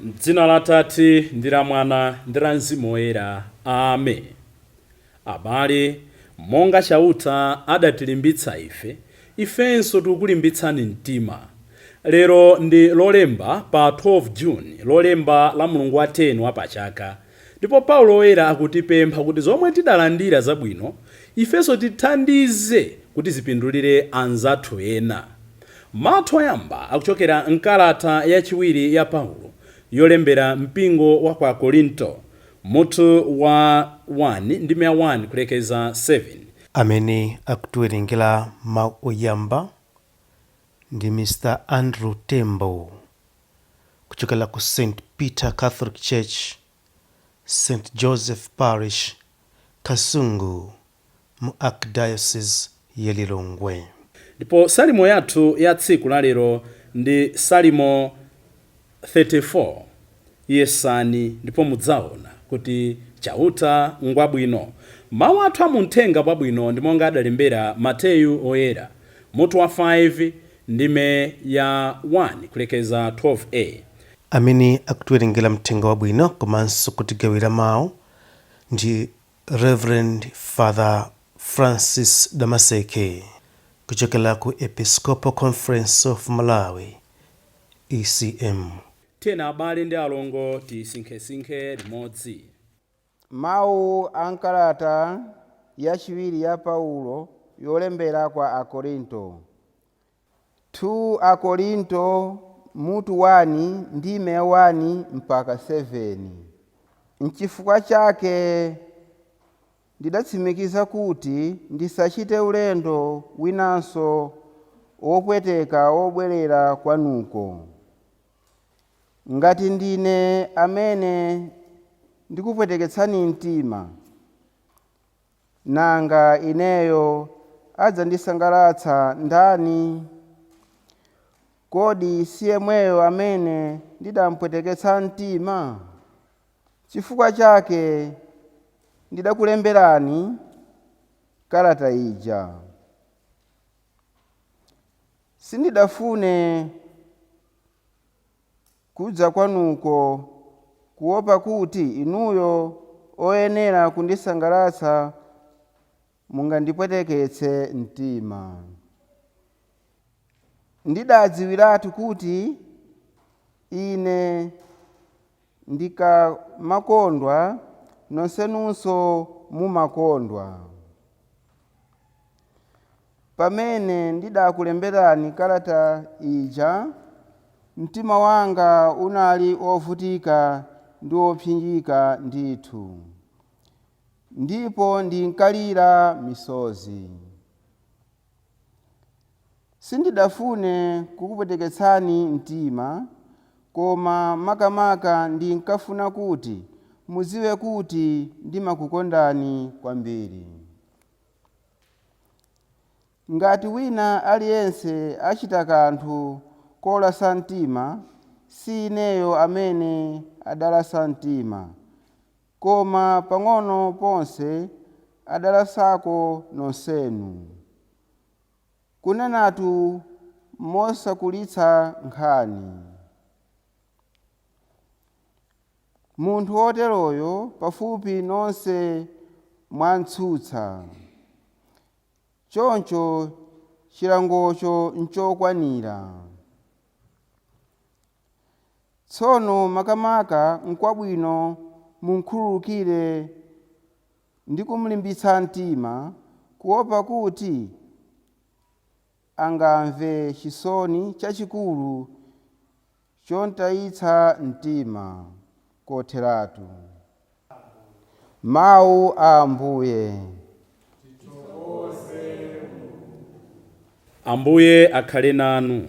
M'dzina la Atate ndi la Mwana ndi la Mzimu Woyera. Amen. Abale, monga Chauta adatilimbitsa ife, ifenso tikulimbitsani mtima. Lero ndi Lolemba pa 12 June, Lolemba la mlungu wa 10 wa pa chaka. Ndipo Paulo Woyera akutipempha kuti zomwe tidalandira zabwino, ifenso tithandize kuti zipindulire anzathu ena. Mau athu oyamba akuchokera m'kalata yachiwiri ya Paulo yolembera mpingo wa kwa Akorinto, mutu wa 1, ndime ya 1 kulekeza 7. Amene akutiwerengera mau oyamba ndi Mr Andrew Tembo. kuchokera ku St Peter Catholic Church, St Joseph Parish, Kasungu mu Archdiocese ya Lilongwe. Ndipo Salimo yathu ya tsiku la lero ndi Salimo 34. Yesani ndipo mudzaona kuti Chauta ngwabwino. Mau athu a mu Mthenga Wabwino ndi monga adalembera Mateyu Woyera, mutu wa 5, Ndime ya 1 kulekeza 12, a. Amene akutiwerengera Mthenga Wabwino komanso kutigawira mau ndi Reverend Father Francis Damaseke kuchokera ku Episcopal Conference of Malawi, ECM. Tiyeni abale ndi alongo tisinkhesinkhe limodzi. Mawu a m'kalata yachiwiri ya Paulo yolembera kwa Akorinto 2 Akorinto mutu 1 ndime ya 1 mpaka 7 N'chifukwa chake ndidatsimikiza kuti ndisachite ulendo winanso wopweteka wobwerera kwanuko. Ngati ndine amene ndikupweteketsani mtima, nanga ineyo adzandisangalatsa ndani? Kodi si yemweyo amene ndidamupweteketsa mtima? Chifukwa chake ndidakulemberani kalata ija. Sindidafune kudza kwanuko, kuwopa kuti inuyo oyenera kundisangalatsa mungandipweteketse mtima. Ndidaadziwiratu kuti ine Ndikamakondwa, nonsenunso mumakondwa. Pamene ndidakulemberani kalata ija, mtima wanga unali wovutika ndi wopsinjika ndithu, ndipo ndinkalira misozi. Sindidafune kukupweteketsani mtima, koma makamaka ndinkafuna kuti mudziwe kuti ndimakukondani kwambiri. Ngati wina aliyense achita kanthu kolasa mtima, si ineyo amene adalasa mtima, Koma pang'ono ponse adalasako nonsenu. Kunenatu mosakulitsa nkhani, munthu woteroyo pafupi nonse mwamtsutsa, choncho chilangocho nchokwanira. Tsono makamaka nkwabwino mumkhululukire ndi kumlimbitsa mtima, kuwopa kuti angamve chisoni chachikulu chomtayitsa mtima kotheratu. Mawu a Ambuye. Ambuye akhale nanu.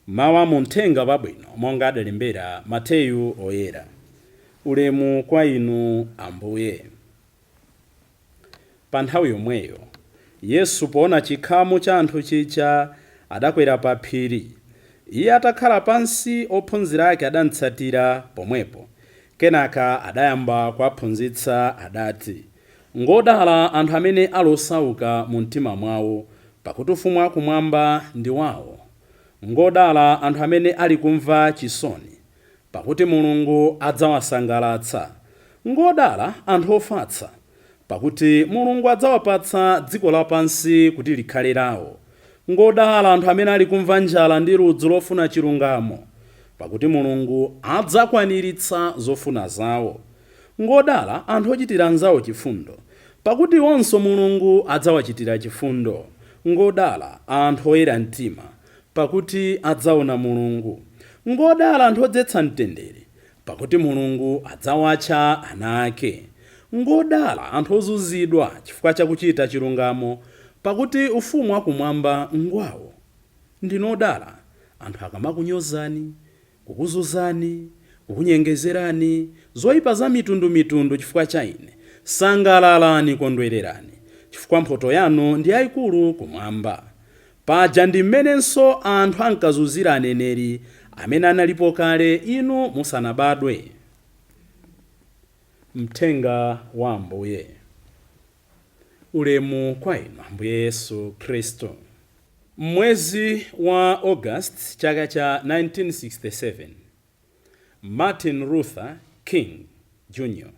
Mawu a mu Mthenga Wabwino monga adalembera Mateyu Oyera. Ulemu kwa Inu Ambuye. Pa nthawi yomweyo Yesu poona chikhamu cha anthu chija, adakwera pa phiri. Iye atakhala pansi, ophunzira ake adamtsatira pomwepo. Kenaka adayamba kuwaphunzitsa, adati, Ngodala anthu amene ali osauka mu mtima mwao, pakuti Ufumu wakumwamba ndi wao. Ngodala anthu amene ali kumva chisoni. pakuti Mulungu adzawasangalatsa. Ngodala anthu ofatsa, pakuti Mulungu adzawapatsa dziko lapansi kuti likhale lao. Ngodala anthu amene ali kumva njala ndi ludzu lofuna chilungamo, pakuti Mulungu adzakwaniritsa zofuna zao. Ngodala anthu ochitira anzao chifundo, pakuti iwonso Mulungu adzawachitira chifundo. Ngodala anthu oyera mtima, pakuti adzaona Mulungu. Ngodala anthu odzetsa mtendere, pakuti Mulungu adzawatcha ana ake. Ngodala anthu ozunzidwa chifukwa cha kuchita chilungamo, pakuti ufumu wakumwamba ngwawo. Ndinu odala anthu akamakunyozani kukuzunzani, kukunyengezerani, zoipa za mitundu mitundu chifukwa cha ine, sangalalani, kondwererani, chifukwa mphotho yanu ndi yaikulu kumwamba. Paja ndi m'menenso anthu ankazunzira aneneri amene analipo kale inu musanabadwe. Mthenga wa Ambuye. Ulemu kwa Inu, Ambuye Yesu Khristu. M'mwezi wa August chaka cha 1967, Martin Luther King, Jr.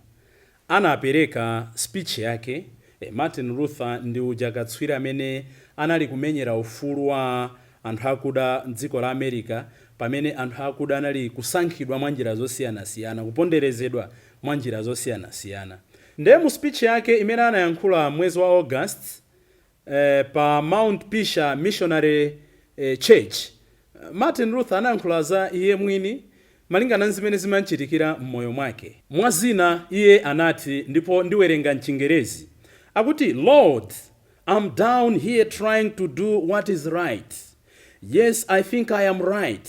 anapereka speech yake, eh, Martin Luther ndi uja katswiri amene anali kumenyera ufulu wa anthu akuda m'dziko la America pamene anthu akuda anali kusankhidwa mwa njira zosiyanasiyana, kuponderezedwa mwa njira zosiyanasiyana. Nde mu speech yake imene anayankhula m'mwezi wa August, Pa Mount Pisgah Missionary Church, Martin Luther anayankhula za iye mwini malingana nzimene zimamchitikira mmoyo mwake. Mwa zina, iye anati, ndipo ndiwerenga mchingerezi, akuti Lord, I'm down here trying to do what is right. Yes, I think I am right.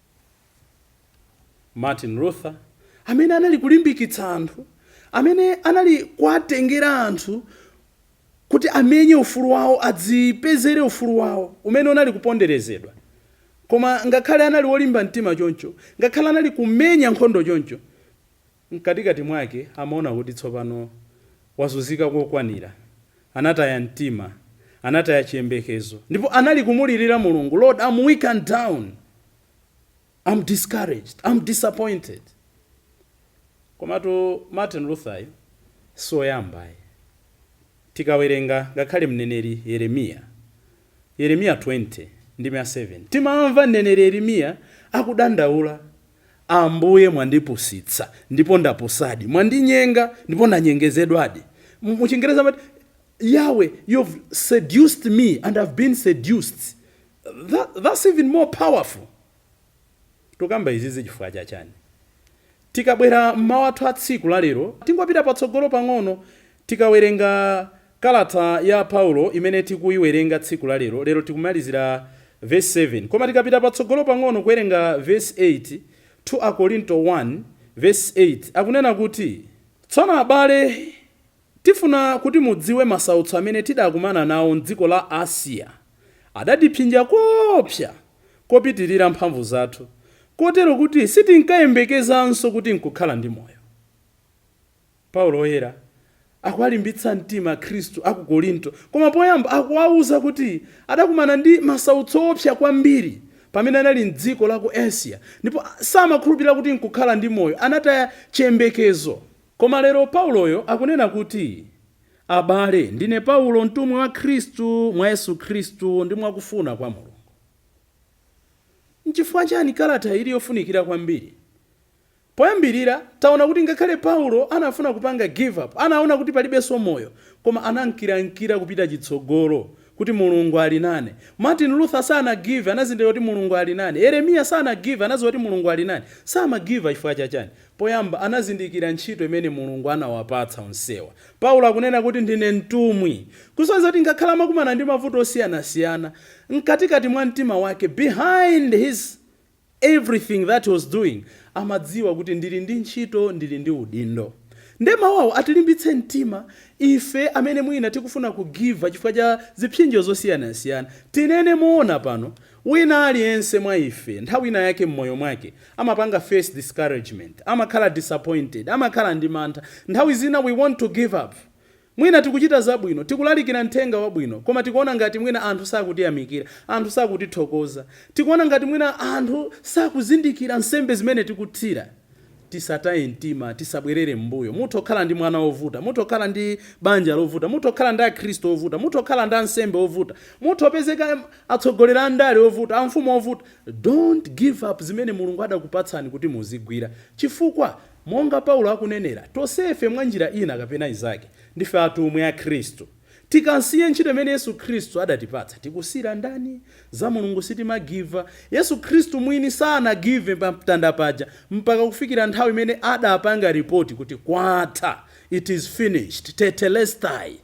Martin Luther, amene anali kulimbikitsa anthu, amene anali kuwatengera anthu kuti amenye ufulu wawo, adzipezere ufulu wawo umene unali kuponderezedwa. Koma ngakhale anali wolimba mtima choncho, ngakhale anali kumenya nkhondo choncho, Mkatikati mwake amaona kuti tsopano wazunzika kokwanira, anataya mtima, anataya chiyembekezo, ndipo anali kumulirira Mulungu, Lord, I'm weak and down, I'm discouraged, I'm disappointed. Komatu Martin Luther yu si oyamba ayi. Tikawerenga ngakhale mneneri Yeremiya, Yeremiya 20, ndime ya 7. Timamva mneneri Yeremiya akudandaula, Ambuye, mwandipusitsa, ndipo ndapusadi, mwandinyenga, ndipo ndanyengezedwadi. Mu chingerezi amati, Yahweh, you've seduced me, and I've been seduced. That's even more powerful. Tukamba izizi chifukwa cha chani? Tikabwera m'mawu athu a tsiku la lero, tingopita patsogolo pang'ono, tikawerenga kalata ya Paulo imene tikuiwerenga tsiku la lero. Lero tikumalizira vesi 7, koma tikapita patsogolo pang'ono kuwerenga vesi 8, 2 Akorinto 1 vesi 8 akunena kuti, Tsono abale, Tifuna kuti mudziwe masautso amene tidakumana nawo m'dziko la Asiya. Adatipsinja koopsa, kopitirira mphamvu zathu, kotero kuti sitinkayembekezanso kuti nkukhala ndi moyo. Paulo Woyera akuwalimbitsa mtima Akhristu a ku Korinto, koma poyamba akuwauza kuti adakumana ndi masautso oopsa kwambiri pamene anali m'dziko la ku Asiya, ndipo samakhulupirira kuti nkukhala ndi moyo, anataya chiyembekezo. Koma lero Pauloyo akunena kuti, Abale, ndine Paulo, mtumwi wa Khristu mwa Yesu Khristu ndi mwa kufuna kwa Mulungu. N'chifukwa chiyani kalata iyi ili yofunikira kwambiri? Poyambirira, taona kuti ngakhale Paulo anafuna kupanga give up, anaona kuti palibenso moyo, koma anankirankira kupita chitsogolo kuti Mulungu ali naye. Martin Luther sanagive, anazindikira kuti Mulungu ali naye. Yeremiya sanagive, anadziwa kuti Mulungu ali naye. Samagiva chifukwa cha chani? Poyamba, anazindikira ntchito imene Mulungu anawapatsa onsewa. Paulo akunena kuti, Ndine mtumwi. Kusonyeza kuti ngakhale amakumana ndi mavuto osiyanasiyana, mkatikati mwa mtima wake, behind his everything that he was doing, amadziwa kuti ndili ndi ntchito, ndili ndi udindo. Ndiye mawu awo atilimbitse mtima ife amene mwina tikufuna kugiva chifukwa cha zipsinjo zosiyanasiyana. Tinene moona pano. Wina aliyense mwa ife, nthawi ina yake mmoyo mwake, amapanga face discouragement, amakhala disappointed, amakhala ndi mantha. Nthawi zina we want to give up. Mwina tikuchita zabwino, tikulalikira uthenga wabwino, koma tikuona ngati mwina anthu sakutiyamikira, anthu sakutithokoza. Tikuona ngati mwina anthu sakuzindikira nsembe zimene tikuthira. Tisataye mtima, tisabwerere m'mbuyo. Mutha kukhala ndi mwana wovuta, mutha kukhala ndi banja lovuta, mutha kukhala ndi akhristu ovuta, mutha kukhala ndi ansembe ovuta, mutha kupezeka atsogoleri a ndale ovuta, amfumu ovuta. Don't give up zimene Mulungu adakupatsani kuti muzigwira chifukwa monga Paulo akunenera, tonsefe mwa njira ina kapena inzake, ndife atumwi a Khristu. Tikasiya ntchito imene Yesu Khristu adatipatsa, tikusiyira ndani? Za Mulungu sitimagiva. Yesu Khristu mwini sanagive pa mtanda paja mpaka kufikira nthawi imene adapanga ripoti kuti kwatha, it is finished, tetelestai.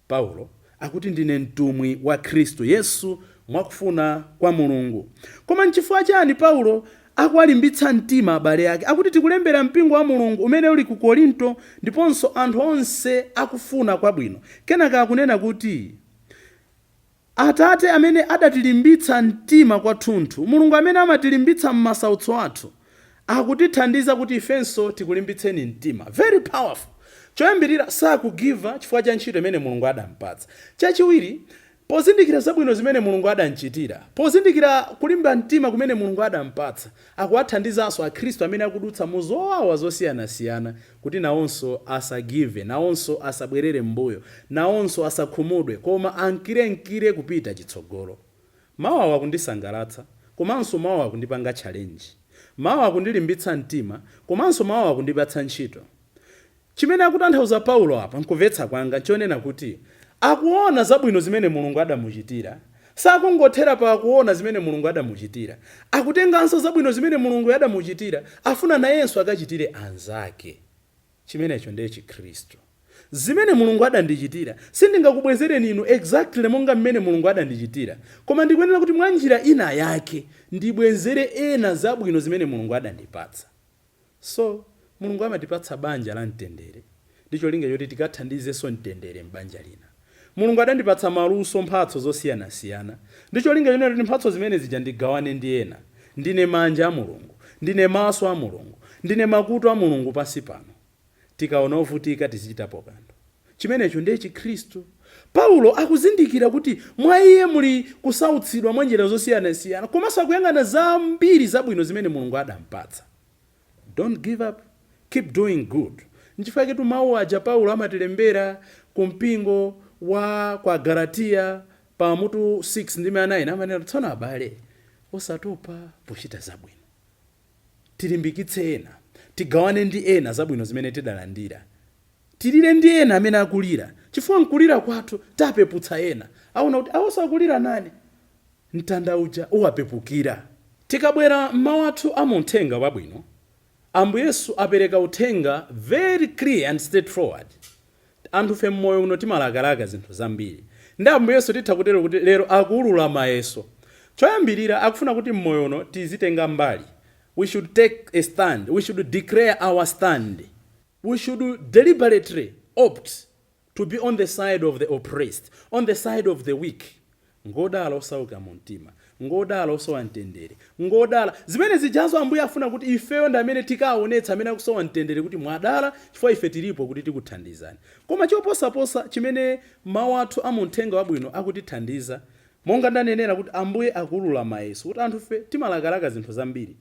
Paulo akuti ndine mtumwi wa Khristu Yesu mwakufuna kwa Mulungu. Koma nchifukwa chani Paulo akuwalimbitsa mtima abale ake. Akuti, Tikulembera mpingo wa Mulungu umene uli ku Korinto ndiponso anthu onse akufuna kwabwino. Kenaka akunena kuti, Atate amene adatilimbitsa mtima kwathunthu, Mulungu amene amatilimbitsa m'masautso athu, akutithandiza kuti ifenso tikulimbitseni mtima. Very powerful! Choyambirira, sakugiva chifukwa cha ntchito imene Mulungu adampatsa. Chachiwiri, Pozindikira zabwino zimene Mulungu adamchitira, pozindikira kulimba mtima kumene Mulungu adampatsa, akuwathandizanso akhristu amene akudutsa mu zowawa zosiyanasiyana kuti nawonso asagive, nawonso asabwerere m'mbuyo, nawonso asakhumudwe koma ankirenkire kupita chitsogolo. Mau awa akundisangalatsa komanso mau awa akundipanga challenge. Mau awa akundilimbitsa mtima komanso mau awa akundipatsa ntchito. Chimene akutanthauza Paulo apa, m'kumvetsa kwanga, nchonena kuti akuona zabwino zimene Mulungu adamuchitira. Sakungothera pa kuona zimene Mulungu adamuchitira, akutenganso zabwino zimene Mulunguyo adamuchitira, afuna nayenso akachitire anzake. Chimenecho ndiye chikhristu. Zimene Mulungu adandichitira, sindingakubwezereni inu exactly monga m'mene Mulungu adandichitira, koma ndikuyenera kuti mwanjira ina yake ndibwezere ena zabwino zimene Mulungu adandipatsa. So, Mulungu amatipatsa banja la mtendere ndi cholinga choti tikathandizenso mtendere m'banja lina. Mulungu adandipatsa maluso, mphatso zosiyanasiyana ndi cholinga choti mphatso zimene zija ndigawane ndi ena. Ndine manja a Mulungu. Ndine maso a Mulungu. Ndine makutu a Mulungu pansi pano. tikaona ovutika tizichitapo kanthu. Chimenecho ndiye Chikhristu. Paulo akuzindikira kuti mwa iye muli kusautsidwa mwa njira zosiyanasiyana komanso akuyang'ana zambiri zabwino zimene Mulungu adampatsa. Don't give up, keep doing good. Nchifukwa chaketu mau aja Paulo amatilembera ku mpingo wa kwa Agalatiya pa mutu 6 ndime ya 9 amanena kuti, Tsono abale, osatopa pochita zabwino. Tilimbikitse ena. Tigawane ndi ena zabwino zimene tidalandira. Tilire ndi ena amene akulira, chifukwa m'kulira kwathu tapeputsa ena. Aona kuti awonso akulira nane. Mtanda uja uwapepukira. Tikabwera m'mau athu a mu Mthenga Wabwino, Ambuye Yesu apereka uthenga very clear and straight forward. Anthufe mmoyo uno timalakalaka zinthu zambiri. Ndiye Ambuye Yesu titha kutero kuti lero akuulula mayeso. Choyambirira akufuna kuti mmoyo uno tizitenga mbali. We should take a stand, we should declare our stand, we should deliberately opt to be on the side of the oppressed, on the side of the weak, Ngodala osauka mu mtima. Ngodala osowa mtendere. Ngodala. Zimene zijazo Ambuye afuna kuti ifeyo ndi amene tikaonetsa amene akusowa mtendere kuti mwadala chifukwa ife tilipo kuti tikuthandizani. Koma choposaposa chimene Mau athu a mu Mthenga Wabwino akutithandiza, monga ndanenera kuti Ambuye akuulula mayeso kuti anthufe timalakalaka zinthu zambiri.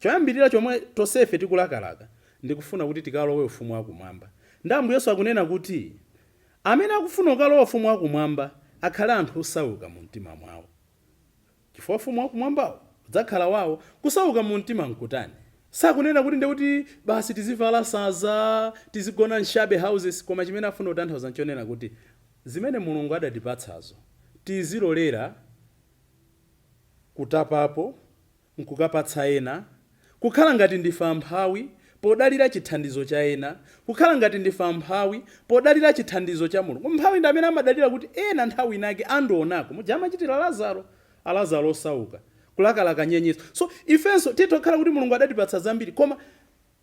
Choyambirira chomwe tonsefe tikulakalaka ndi kufuna kuti tikalowe Ufumu wa Kumwamba. Ndiye Ambuye Yesu akunena kuti. Amene akufuna kukalowa Ufumu wa Kumwamba akhale anthu osauka mu mtima mwawo, chifukwa Ufumu wa Kumwambawo udzakhala wawo. Kusauka mu mtima nkutani? Sakunena kuti ndiye kuti basi tizivala sanza, tizigona m'shabby houses, koma chimene afuna kutanthauza nchonena kuti zimene Mulungu adatipatsazo tizilolera kutapapo, n'kukapatsa ena, kukhala ngati ndife amphawi podalira chithandizo cha ena, kukhala ngati ndife amphawi podalira chithandizo cha Mulungu. Mphawi ndi amene amadalira kuti ena nthawi inake andionako, muja amachitira Lazaro, a Lazaro osauka, kulakalaka nyenyeswa. So, ifenso titha kukhala kuti Mulungu adatipatsa zambiri, koma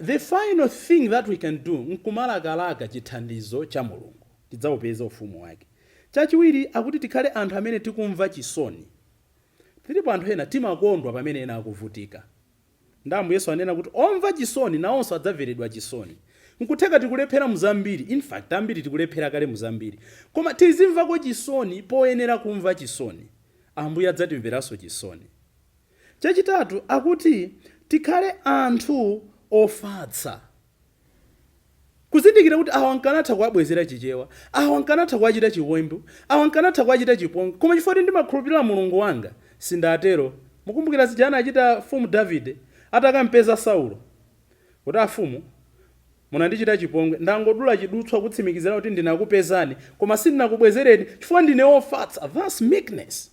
the final thing that we can do n'kumalakalaka chithandizo cha Mulungu, tidzaupeza ufumu wake. Chachiwiri, akuti tikhale anthu amene tikumva chisoni. Tilipo anthu ena timakondwa pamene ena akuvutika. Ndiye Ambuye Yesu anena kuti omva chisoni nawonso adzamveredwa chisoni. Nkutheka tikulephera mu zambiri, in fact ambiri tikulephera kale mu zambiri, koma tizimvako chisoni poyenera kumva chisoni. Ambuye adzatimveranso chisoni. Chachitatu akuti tikhale anthu ofatsa. Kuzindikira kuti awa nkanatha kuwabwezera Chichewa, awa nkanatha kuwachita chiwembu, awa nkanatha kuwachita chipongwe, koma chifukwa choti ndimakhulupirira Mulungu wanga, sindatero. Mukumbukira zija anachita Mfumu Davide atakampeza Saulo? Kuti, Afumu, munandichita chipongwe. Ndangodula chidutswa kutsimikizira kuti ndinakupezani, koma sindinakubwezereni chifukwa ndine wofatsa. That's meekness.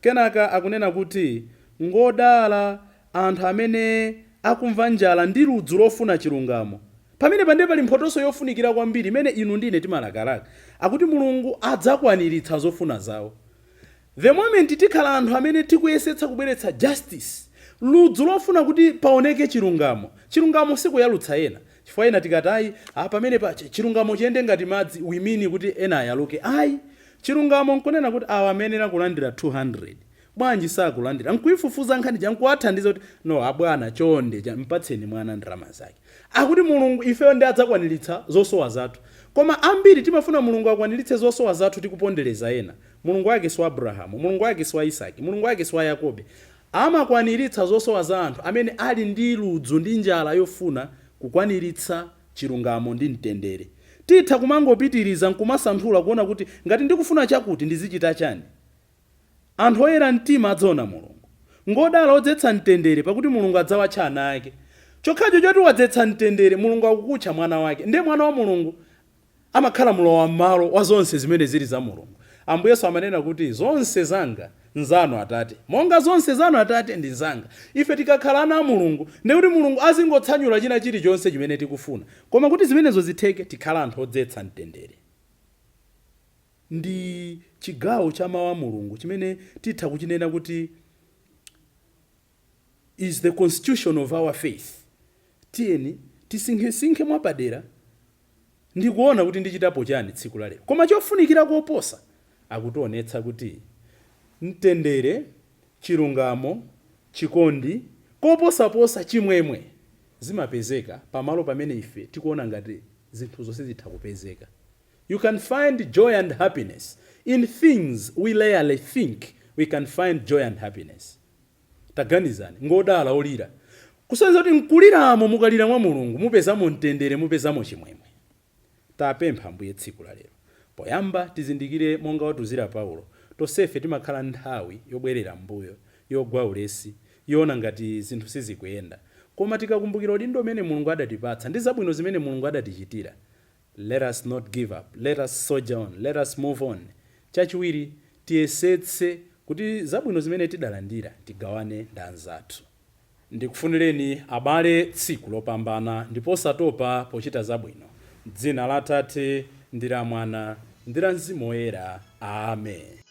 Kenaka akunena kuti, Ngodala anthu amene akumva njala ndi ludzu lofuna chilungamo. Pamenepa ndiye pali mphotonso yofunikira kwambiri imene inu ndi ine timalakalaka. Akuti Mulungu adzakwaniritsa zofuna zawo. The moment tikhala anthu amene tikuyesetsa kubweretsa justice, ludzu lofuna kuti paoneke chilungamo. Chilungamo sikuyalutsa ena. Chifukwa ena tikati ayi a pamenepa chi chilungamo chiyende ngati madzi we mean kuti ena ayaluke ayi. Chilungamo nkunena kuti awa amayenera kulandira 200 bwanji sakulandira nkuifufuza nkhani ija nkuwathandiza kuti no abwana chonde tampatseni mwana ndalama zake. Akuti Mulungu ifeyo ndiye adzakwaniritsa zosowa zathu. Koma ambiri timafuna Mulungu akwaniritse zosowa zathu tikupondereza ena. Mulungu wake si wa Abrahamu, Mulungu wake si wa Isaki, Mulungu wake si wa Yakobe. Amakwaniritsa zosowa za anthu amene ali ndi ludzu ndi njala yofuna kukwaniritsa chilungamo ndi mtendere. Titha kumangopitiriza nkumasanthula kuona kuti ngati ndikufuna chakuti, ndizichita chani? Anthu oyera mtima adzaona Mulungu. Ngodala odzetsa mtendere, pakuti Mulungu adzawatcha ana ake. Chokhacho choti wadzetsa mtendere, Mulungu akukutcha mwana wake. Ndiye mwana wa Mulungu Amakhala mlowam'malo wa zonse zimene ziri za Mulungu. Ambuye Yesu amanena kuti, Zonse zanga nzanu, Atate, monga zonse zanu, Atate, ndi zanga. Ife tikakhala ana a Mulungu, ndiye kuti Mulungu azingotsanyula china chirichonse chimene tikufuna. Koma kuti zimenezo zitheke, tikhale anthu odzetsa mtendere ndi chigawo cha Mawu a Mulungu chimene titha kuchinena kuti, Ch. is the constitution of our faith tiyeni tisinkhesinkhe mwapadera ndikuona kuti ndichitapo chani tsiku la lero koma chofunikira koposa akutionetsa kuti mtendere chilungamo chikondi koposaposa chimwemwe zimapezeka pamalo pamene ife tikuona ngati zinthuzo sizitha kupezeka you can find joy and happiness in things we rarely think we can find joy and happiness. Taganizani, ngodala olira. Kusonyeza kuti m'kuliramo, mukalira mwa Mulungu, mupezamo mtendere, mupezamo chimwemwe. Tapempha Ambuye tsiku la lero. Poyamba, tizindikire monga watiuzira Paulo, tonsefe timakhala nthawi yobwerera m'mbuyo, yogwa ulesi, yoona ngati zinthu sizikuyenda. Koma tikakumbukira udindo umene Mulungu adatipatsa ndi zabwino zimene Mulungu adatichitira, Let us not give up, let us soldier on, let us move on, Chachiwiri, tiyesetse kuti zabwino zimene tidalandira tigawane ndi anzathu. Ndikufunireni abale tsiku lopambana ndipo osatopa pochita zabwino. M'dzina la Atate, ndi la Mwana, ndi la Mzimu Woyera. Amen.